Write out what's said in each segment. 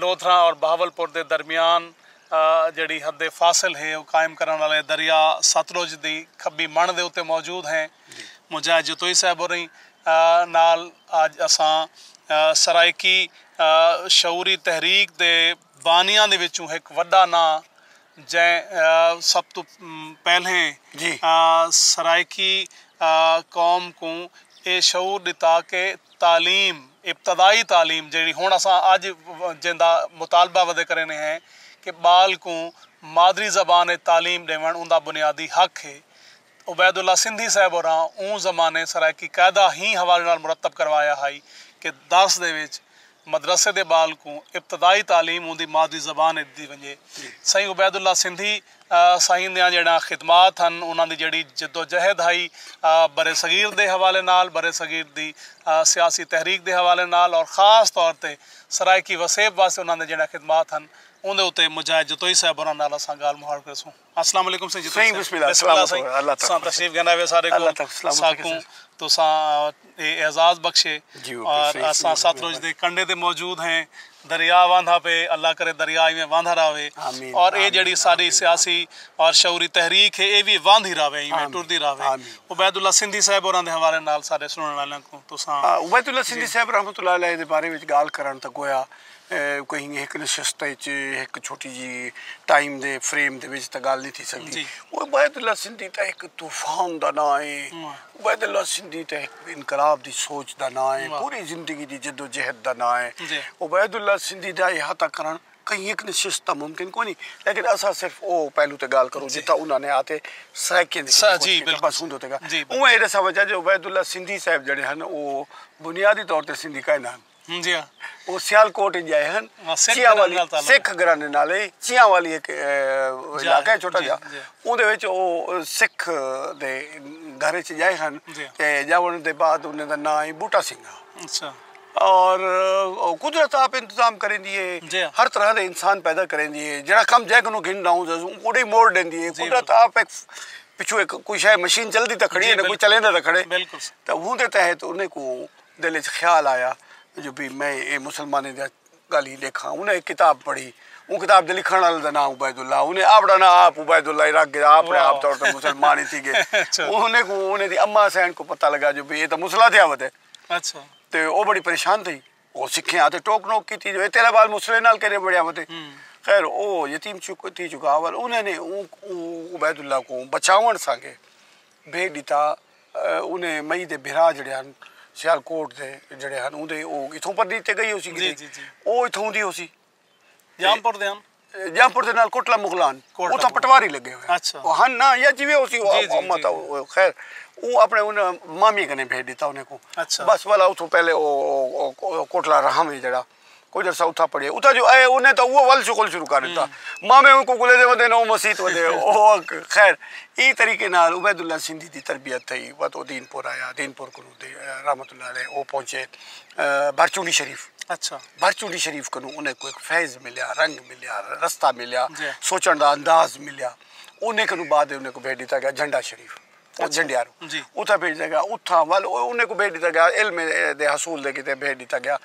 لودھراں اور بہاول پور دے درمیان جیڑھی حد فاصل ہے او قائم کرݨ آلے دریا ستلج دی کھبی مݨ دے اتے موجود ہیں۔ مجاہد جتوئی صاحب ہوریں نال اج اساں سرائیکی شعوری تحریک دے بانیاں دے وچوں ہک وݙا ناں جئیں سب توں پہلیں سرائیکی قوم کوں اے شعور ݙتا کہ تعلیم ابتدائی تعلیم جیڑھی ہݨ اساں اڄ جیندا مطالبہ ودے کریندے ہیں کہ ٻال کوں مادری زبان اچ تعلیم ݙیوݨ اوندا بنیادی حق ہے۔ عبید اللہ سندھی صاحب ہوراں اوں زمانے سرائیکی قاعدہ ہیں حوالے نال مرتب کروایا ہائی کہ درس دے وچ مدرسے دے بال کوں ابتدائی تعلیم اوندی مادری زبان اچ ڈتی ونجے۔ سائیں عبید اللہ سندھی سائیں دیاں جیڑھیاں خدمات ہن انہاں دی جیڑھی جدوجہد ہائی برصغیر دے حوالے نال، برصغیر دی سیاسی تحریک دے حوالے نال اور خاص طور تے سرائیکی وسیب واسطے انہاں دے جیڑھیاں خدمات ہن اوندے اتے مجاہد جتوئی صاحب ہوراں نال اساں گالھ مہاڑ کریسوں۔ اسلام علیکم سائیں جی سائیں بسم اللہ بسم اللہ سائیں اللہ تساں تشریف گھن آئے سارے کو اللہ تک سلام ساکوں تساں اعزاز بخشے جی اور اساں سات روز دے کنڈے دے موجود ہیں دریا واندھا پہ اللہ کرے دریا ایویں واندھا راوے اور اے جڑی ساری سیاسی اور شعوری تحریک ہے اے بھی واندھی راوے ایویں ٹردی راوے عبید اللہ سندھی صاحب اوراں دے حوالے نال سارے سنن والوں کو تساں عبید اللہ سندھی صاحب رحمتہ اللہ علیہ دے بارے وچ گال کرن تے گویا کوئی ہک نشست اچ ہک چھوٹی جی ٹائم دے فریم دے وچ تاں گالھ نہیں تھی سکدی عبید اللہ سندھی تاں ہک طوفان دا ناں ہے عبید اللہ سندھی تاں ہک انقلاب دی سوچ دا ناں ہے پوری زندگی دی جدوجہد دا ناں ہے عبید اللہ سندھی دا احاطہ کرݨ کہیں ہک نشست تاں ممکن کوئی نہیں لیکن اساں صرف او پہلو تے گالھ کروں جتھاں انہاں نے آتے سرائیکیں دی کوشش کیتی بس اوندے تے گالھ اوہ اے ݙساں وجہ جو عبید اللہ سندھی صاحب جیڑھے ہن او بنیادی طور تے سندھی کائناں ہن او سیالکوٹ اچ ڄائے ہن۔ چیاں والی سکھ گھرانے نال اے۔ چیاں والی ہک علاقہ اے چھوٹا جیا۔ اوندے وچ او سکھ دے گھر اچ ڄائے ہن۔ تے ڄاوݨ دے بعد انہیں دا ناں اے بوٹا سنگھ ہا۔ اچھا۔ اور قدرت آپ انتظام کریندی اے۔ ہر طرح دے انسان پیدا کریندی اے۔ جیڑھا کم جئے کنوں گھن ݙاوں اوݙے ای موڑ ݙیندی اے۔ قدرت آپ ہک پچھوں ہک کوئی شئے مشین چلدی تاں کھڑی اے نہ کوئی چلیندا تاں کھڑے۔ بالکل۔ تاں اوندے تحت انہیں کوں۔ دل اچ خیال آیا جو بھئی میں اے مسلمانیں دیاں گالھیں ڈیکھاں۔ انہاں ہک کتاب پڑھی۔ اوں کتاب دے لکھݨ آلے دا ناں عبید اللہ۔ انہیں آپڑاں ناں آپ عبید اللہ ہی رکھ گھدا۔ آپڑیں آپ طور تے مسلمان ہی تھی گئے۔ انہیں کوں انہیں دی اماں حسین کوں پتہ لگا جو بھئی اے تاں مسلح تھیا ودے۔ تے او بڑی پریشان تھئی۔ او سکھیاں آتے ٹوک نوک کیتی جو اے تیرا بال مسلح نال کیرے بڑیا ودے۔ خیر او یتیم تھی چکا۔ انہیں نے عبید اللہ کوں بچاون سانگے۔ بھیج ݙتا انھیں مئی دے بھرا جیڑھے ہن سیالکوٹ دے جیڑھے ہن اوندے او اتھوں پرلی تے گئی ہوسی کیتے او اتھوں دی ہوسی جامپور دے ہن جامپور دے نال کوٹلہ مغلان اتھاں پٹواری لگے ہوئے او ہن نا یا جویں ہوسی خیر او اپنے ان مامی کنے بھیج ݙتا انھیں کو بس والا اتھوں پہلے او کوٹلہ رہاں وی جیڑھا کجھ عرصہ اتھاں پڑھے اتھاں جو اے انہیں تاں اوہ ول شغل شروع کر دیتا مامے ان کو گلے دے ودے نو مسیت ودے اوہ خیر ای طریقے نال عبید اللہ سندھی دی تربیت تھئی وت او دین پور آیا دین پور کنوں دے رحمت اللہ علیہ او پہنچے بھرچونڈی شریف اچھا بھرچونڈی شریف کنوں انہیں کوئی فیض ملیا رنگ ملیا رستہ ملیا سوچن دا انداز ملیا انہیں کنوں بعد انہیں کو بھیج دیتا گیا جھنڈا شریف او جھنڈیار اتھاں بھیج ݙتا ڳیا اتھاں ول انہیں کوں بھیج ݙتا ڳیا علم دے حصول دے کیتے بھیج ݙتا ڳیا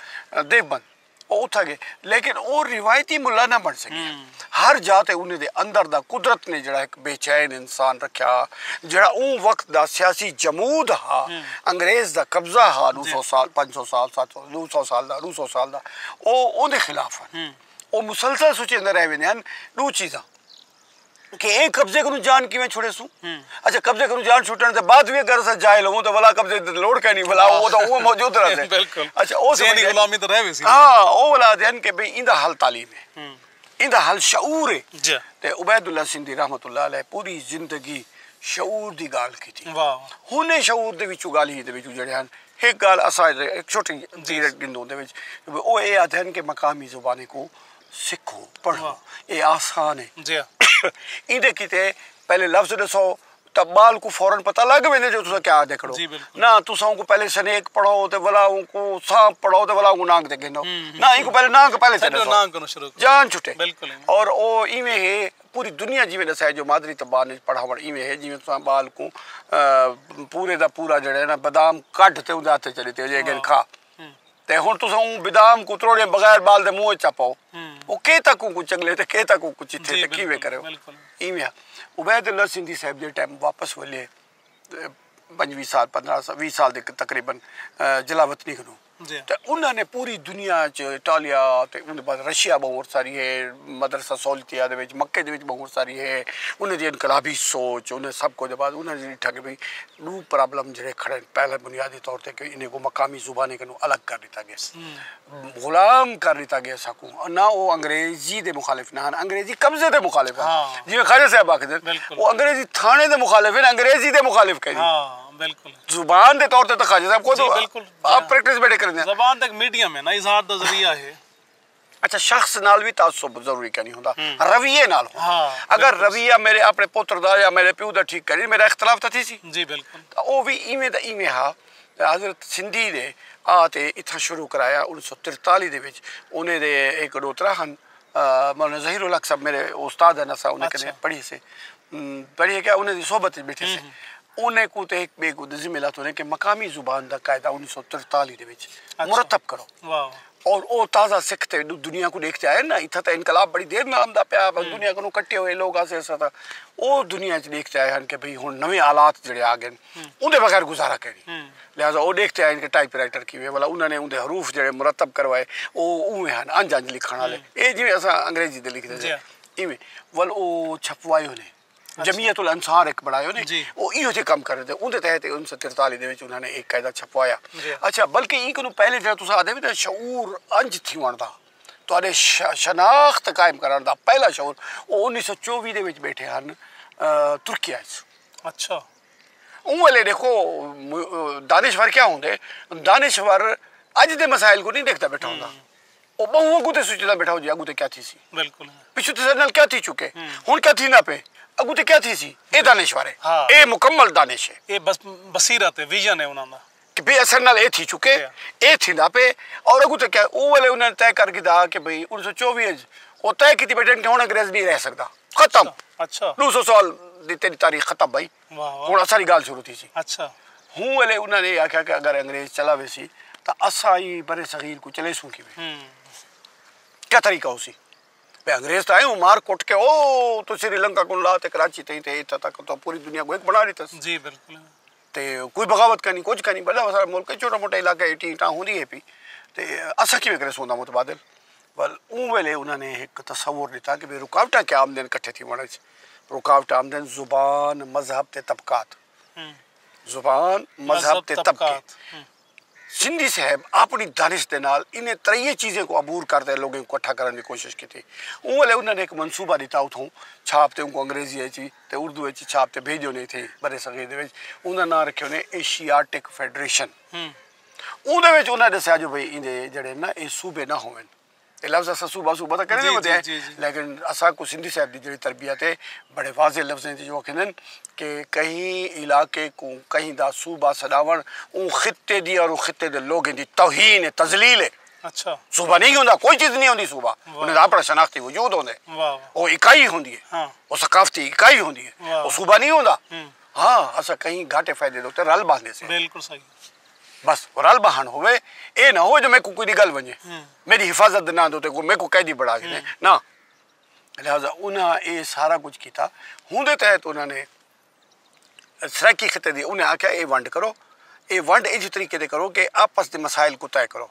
دیوبند او اتھاں ڳئے لیکن او روایتی ملا نہ بݨ سڳیا ہر جا تے انہیں دے اندر دا قدرت نے جیڑھا ہک بے چین انسان رکھیا ہا جیڑھا اوں وقت دا سیاسی جمود ہا انگریز دا قبضہ ہا ݙو سو سال پنج سو سال ست سو ݙو سو سال دا ݙو سو سال دا او اوندے خلاف ہن او مسلسل سوچیندے رہ ویندے ہن ݙو چیزاں کہ اے قبضے کنوں جان کیویں چھڑے سوں اچھا قبضے کنوں جان چھٹن دے بعد وی اگر اساں جاہل ہووں تاں ولا قبضے دی لوڑ کائنی ولا او تاں اوویں موجود رہندے بالکل اچھا او ذہنی غلامی تاں رہ ویسی ہاں او ولا دین کہ بھئی ایندا حل تعلیم ہے ایندا حل شعور ہے جی تے عبید اللہ سندھی رحمۃ اللہ علیہ پوری زندگی شعور دی گالھ کیتی واہ واہ ہن اے شعور دے وچوں گالھ ہی دے وچوں جڑے ہن ہک گالھ اساں اک چھوٹی جی گندوں دے وچ او اے آدھن کہ مقامی زبانیں کوں سکھو پڑھو اے آسان ہے جی ایندے کیتے پہلے لفظ ڈسو تا بال کو فورا پتہ لگ ویندے جو تساں کیا آدے کھڑو نہ تساں اونکو پہلے سنیک پڑھو تے ولا اونکو سانپ پڑھو تے ولا اونکو نانگ تے گھنو نہ اینکو پہلے نانگ پہلے تے ڈسو جان چھٹے اور او ایویں ہے پوری دنیا جیویں ڈسائے جو مادری زبان اچ پڑھاوڑ ایویں ہے جیویں تساں بال کو پورے دا پورا جیڑے نا بادام کڈھ تے اوندے ہتھ اچ ڈتے جے گن کھا تے ہݨ تساں اوں بدام کوں تروڑیاں بغیر ٻال دے منہ ءچ چا پاؤ او کے تک اوں کوں چنگلے تے کے تک اوں کوں چتھے تے کیویں کرے ایویں ہا عبید اللہ سندھی صاحب جیڑھے ٹائم واپس ولے پنجویں سال پندرہ سال ویہہ سال دے تقریبا جلاوطنی کنوں تے انہاں نے پوری دنیا ءچ اٹالیا تے اوندے بعد رشیا ٻہوں عرصہ ریہے مدرسہ سولتیہ دے وچ مکے دے وچ ٻہوں عرصہ ریہے انہاں دی انقلابی سوچ انہاں سب کجھ دے بعد انہاں ݙیٹھا کہ بھئی ڈو پرابلم جیڑھے کھڑے ہن پہلے بنیادی طور تے کہ انہیں کوں مقامی زبانیں کنوں الگ کر ڈتا گیس غلام کر ڈتا گیس ہاکوں نہ او انگریزی دے مخالف نہ ہن انگریزی قبضے دے مخالف ہن جیویں خواجہ صاحب آکھدے ہن او انگریزی تھانے دے مخالف ہن انگریزی دے مخالف کہیں نہیں زبان دے طور تے خواجہ صاحب خود آپ پریکٹس بیٹھے کریندے ہن زبان تے ایک میڈیم ہے نا اظہار دا ذریعہ ہے۔ اچھا شخص نال وی تعصب ضروری کینی ہوندا رویے نال ہوندا اگر رویہ میرے اپنے پتر دا یا میرے پیو دا ٹھیک کری میرا اختلاف تاں تھیسی جی بالکل تاں او وی ایویں دا ایویں ہا حضرت سندھی دے آ تے اتھاں شروع کرایا انیس سو ترتالی دے وچ انہیں دے ہک ڈو ترا ہن مولانا ظہیر الحق صاحب میرے استاد ہن اساں انہیں کنے پڑھی سے پڑھی کہ انہیں دی صحبت وچ بیٹھے سے انہیں کو تے ہک بے کو ذمہ لاتو نے کہ مقامی زبان دا قاعدہ انیس سو ترتالی دے وچ مرتب کرو اور او تازہ سکھ تے دنیا کوں ڈیکھ تے آئے نا اتھا تے انقلاب بڑی دیر نال آندا پیا بس دنیا کنوں کٹے ہوئے لوگ آسے اساں تاں او دنیا اچ ڈیکھ تے آئے ہن کہ بھئی ہن نویں حالات جڑے آ گئے اوں دے بغیر گزارا کینی لہذا او ڈیکھ تے آئے کہ ٹائپ رائٹر کیویں بھلا انہاں نے اوں دے حروف جڑے مرتب کروائے او اونویں ہن انج انج لکھݨ آلے اے جیویں اساں انگریزی تے لکھدے سے ایویں ول او چھپوائے ہونے۔ جمیعت الانصار ایک بنایا انہیں جی وہ ایہو جے کم کر رہے تھے ان دے تحت انیس سو ترتالی دے وچ انہاں نے ایک قاعدہ چھپوایا جی۔ اچھا بلکہ ایں کنوں پہلے جڑا تساں آدھے ویندے شعور انج تھیون دا تہاڈے شناخت قائم کرن دا پہلا شعور وہ انیس سو چووی دے وچ بیٹھے ہن ترکیہ اچ اچھا اوں ویلے دیکھو دانشور کیا ہوندے دانشور اج دے مسائل کو نہیں دیکھدا بیٹھا ہوندا۔ او بہوں اگوں تے سوچدا بیٹھا ہو جے اگوں تے کیا تھیسی۔ بالکل۔ پچھوں تے ساڈے نال کیا تھی چکے۔ ہن کیا تھیندا پئے۔ اگوں تے کیا تھیسی۔ اے دانشور ہے۔ اے مکمل دانش ہے۔ اے بس بصیرت ہے۔ ویژن ہے انہاں دا۔ کہ بھئی اساڈے نال اے تھی چکے۔ اے تھیندا پئے۔ اور اگوں تے کیا ہے۔ او ویلے انہاں نے طے کر گھدا کہ بھئی انیس سو چووی اچ او طے کیتی بیٹھے ہن انگریز نی رہ سکدا۔ ختم۔ اچھا۔ ڈو سو سال دی تیڈی تاریخ ختم بھائی۔ ہن اساں دی گالھ شروع تھیسی۔ ہوں ویلے انہاں نے آکھیا کہ اگر انگریز چلا ویسی تاں اساں ایں برصغیر کوں چلیسوں کیویں؟ کیا طریقہ ہوسی؟ بھئی انگریز تاں اینویں مار کٹ کے او توں سری لنکا کوں لا تے کراچی تئیں تے اتھاں تک تاں پوری دنیا کوں ہک بنا ڈتس۔ تے کوئی بغاوت کائنی کجھ کائنی بھلا سارا ملک چھوٹا موٹا علاقہ ہے ٹیں ٹاں ہوندی ہے پی تے اساں کیویں کریسوں اندا متبادل؟ ول اوں ویلے انہاں نے ہک تصور ݙتا کہ بھئی رکاوٹاں کیا آمدن کٹھے تھیوݨ اچ رکاوٹ آمدن زبان، مذہب تے طبقات۔ زبان، مذہب تے طبقے۔ سندھی صاحب آپݨی دانش دے نال انہیں تریہہ چیزیں کوں عبور کر تے لوگیں کوں کٹھا کرݨ دی کوشش کیتی۔ اوں ویلے انہاں نے ہک منصوبہ ݙتا اتھوں چھاپ تے اونکوں انگریزی اچ وی تے اردو اچ وی چھاپ تے بھیڄیو نے اتھیں برصغیر دے وچ اوندا ناں رکھیو نے ایشیاٹک فیڈریشن۔ اوندے وچ انہاں ڈسیا جو بھئی ایندے جیڑھے نا اے صوبے نا ہوون۔ اے لفظ اساں صوبہ صوبہ تاں کریندے ہوندے ہیں لیکن اساں کوں سندھی صاحب دی جیڑھی تربیت ہے بڑے واضح لفظاں وچ اوہ کہندن کہ کہیں علاقے کوں کہیں دا صوبہ سݙاوݨ اوں خطے دی اور اوں خطے دے لوگیں دی توہین ہے تذلیل ہے۔ اچھا۔ صوبہ نہیں ہوندا کوئی چیز نہیں ہوندی صوبہ۔ واہ۔ انہاں دا اپݨا شناختی وجود ہوندے۔ واہ۔ او اکائی ہوندی ہے۔ ہاں۔ او ثقافتی اکائی ہوندی ہے۔ واہ۔ او صوبہ نہیں ہوندا۔ ہاں۔ ہاں اساں کہیں گھاٹے فائدے دے اتے رل ٻہندے سے۔ بالکل صحیح۔ بس رل بہن ہووے اے نہ ہووے جو میکوں کوئی دی گل ونجے میڈی حفاظت دے ناں دے اتے کوئی میکوں قیدی بنڑا گھنے نہ لہذا انہاں اے سارا کجھ کیتا ہوندے تحت انہاں نے سرائیکی خطے دی انہاں آکھیا اے ونڈ کرو اے ونڈ ایجھے طریقے دے کرو کہ آپس دے مسائل کوں طے کرو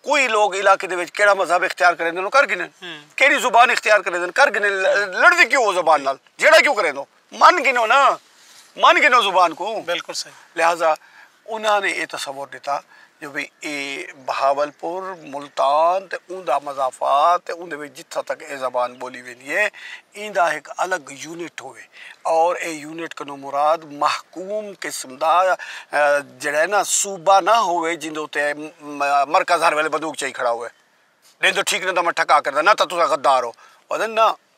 کوئی لوگ علاقے دے وچ کیڑا مذہب اختیار کریندے نو کر گھنن کیڑی زبان اختیار کریندے نو کر گھنن لڑدے کیوں او زبان نال جھیڑا کیوں کریندو۔ من گھنو نا من گھنو زبان کوں بالکل صحیح لہذا انہاں نے اے تصور ڈتا جو بھئی اے بہاولپور ملتان تے اوندا مضافات تے اوندے وچ جتھاں تک اے زبان بولی ویندی اے ایندا ہک الگ یونٹ ہووے اور اے یونٹ کنوں مراد محکوم قسم دا جیڑا اے نا صوبہ نہ ہووے جیندے اتے مرکز ہر ویلے بندوق چائی کھڑا ہووے ڈیندو ٹھیک نہ تاں میں ٹھکا کردا نہ تاں تساں غدار او او آہدن نہ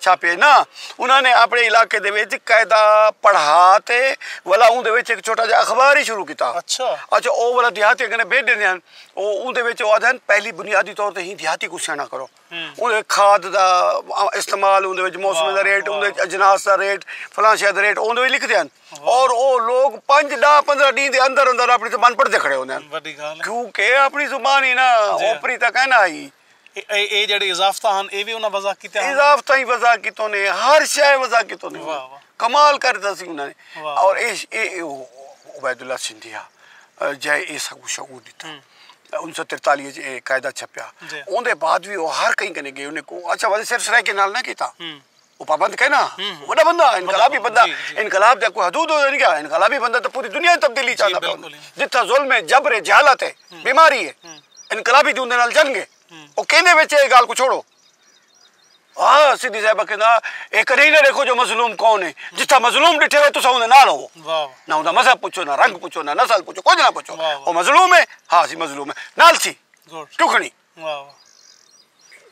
چھاپے نا انہاں نے اپنے علاقے دے وچ قاعدہ پڑھا تے ولا اون دے وچ ایک چھوٹا جا اخبار ہی شروع کیتا اچھا اچھا او ولا دیہاتیاں کنے بھیج دیندے ہن او اون دے وچ او آدھن پہلی بنیادی طور تے ہی دیہاتی کو سیاںا کرو اون کھاد دا استعمال اون دے وچ موسم دا ریٹ اون دے اجناس دا ریٹ فلاں شے دا ریٹ اون دے وچ لکھ دیاں اور او لوگ پنج ڈا پندرہ ڈی دے اندر اندر اپنی زبان پڑھتے کھڑے ہوندے ہن کیونکہ اپنی زبان ہی نا اوپری تک ہے نا آئی اے جیڑھے اضافتہ ہن اے وی انہاں وضع کیتیاں ہن اضافتہ ہی وضع کیتوں نے ہر شے وضع کیتوں نے کمال کر ڈتا سی انہاں نے اور اے عبید اللہ سندھی ہا جے اے سکو شعور ڈتا انیس سو ترتالی اچ اے قاعدہ چھپیا اوندے بعد وی او ہر کہیں کنے گئے انہیں کو اچھا وضع صرف سرائیکے نال نہ کیتا او پابند کائے نا وڈا بندہ انقلابی بندہ انقلاب دے کوئی حدود ہوندے کیا انقلابی بندہ تے پوری دنیا دی تبدیلی چاہندا پیا جتھاں ظلم ہے جبر ہے جہالت ہے بیماری ہے انقلابی دی اوندے نال جنگ ہے او کیندے وچ اے گال کو چھوڑو ہاں سدھی صاحبہ کہندا اے کدے نہ دیکھو جو مظلوم کون ہے جتھاں مظلوم ڈٹھے ہوئے تساں اوندے نال ہوو نہ اوندا مذہب پوچھو نہ رنگ پوچھو نہ نسل پوچھو کچھ نہ پوچھو او مظلوم ہے ہاں اسی مظلوم ہے نال سی ٹکھنی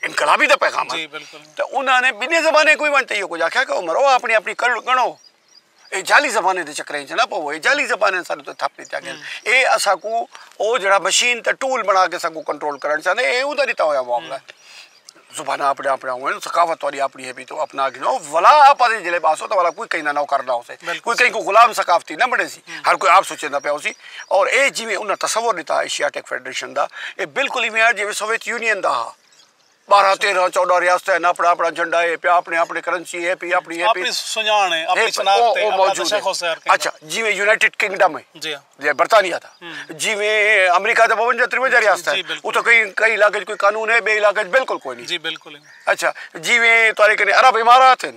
انقلابی دا پیغام ہے تے انہاں نے بنی زبانیں کوئی ونٹے ہو کچھ آکھیا کہ مرو اپنی اپنی کل گنو اے جالی زبانیں دے چکریں وچ نہ پو اے جالی زبانیں سارے تو تھپ دتیا گیا اے اسا کو او جڑا مشین تے ٹول بنا کے اسا کو کنٹرول کرن چاہندے اے اوں دا دتا ہویا معاملہ ہے زبانہ اپنے اپنے ہوئے ثقافت توڑی اپنی ہے بھی تو اپنا گنو ولا اپا دے جلے باسو تو ولا کوئی کہیں نہ نوکر نہ ہو سے کوئی کہیں کو غلام ثقافتی نہ بنے سی ہر کوئی آپ سوچے نہ پیا ہو سی اور ایہ جیویں انہاں تصور ݙتا ہا ایشیاٹک فیڈریشن دا ایہ بالکل ایویں ہا جیویں سوویت یونین دا ہا۔ ٻارہاں تیرہاں چوݙاں ریاستاں ہن آپݨا آپݨا جھنڈا اے پیا آپݨی آپݨی کرنسی اے پی آپݨی اے پی آپݨی سنڄاݨ اے آپݨی شناخت اے آپݨا دشا خو سیار کیندا اچھا جیویں یونائیٹڈ کنگڈم اے جی ہاں برطانیہ دا جیویں امریکہ دا ٻونجا ترونجا ریاستاں ہن اتھاں کئی کئی علاقے وچ کوئی قانون اے ٻئے علاقے وچ بالکل کوئی نی جی بالکل اچھا جیویں تہاݙے کنے عرب امارات ہن۔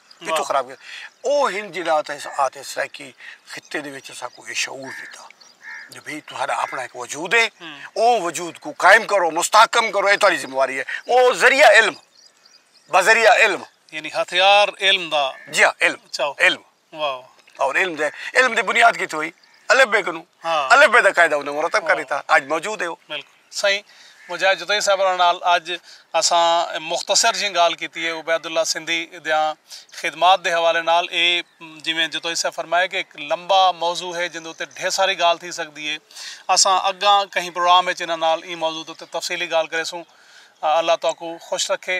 پیچھوں خراب کیتا او ہن جیڑا اتے آتے سرائیکی خطے دے وچ اساکوں اے شعور ڈیتا جو بھئی تہاڈا اپنا ہک وجود ہے او وجود کو قائم کرو مستحکم کرو اے تہاڈی ذمہ واری ہے او ذریعہ علم بذریعہ علم یعنی ہتھیار علم دا جی ہاں علم چاہو علم واو اور علم دے علم دی بنیاد کیتے ہوئی الف بے کنوں الف بے دا قاعدہ انہاں مرتب کر دیتا اج موجود ہے او بالکل سائیں مجاہد جتوئی صاحب ہوراں نال اج اساں مختصر جیں گالھ کیتی ہے عبید اللہ سندھی دیاں خدمات دے حوالے نال اے جیویں جتوئی صاحب فرمایا کہ ہک لمبا موضوع ہے جیندے اتے ڈھیر ساری گالھ تھی سکدی ہے اساں اگاں کہیں پروگرام اچ انہاں نال ایں موضوع دے اتے تفصیلی گالھ کریسوں اللہ تہاکوں خوش رکھے۔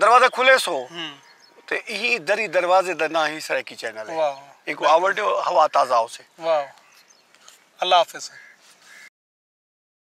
دروازہ کھلے سو تے ایں دری دروازے دا ناں ہی سرائیکی چینل ہے اینکوں آوڑ ڈیو ہوا تازہ ہوسے۔ واہ اللہ حافظ۔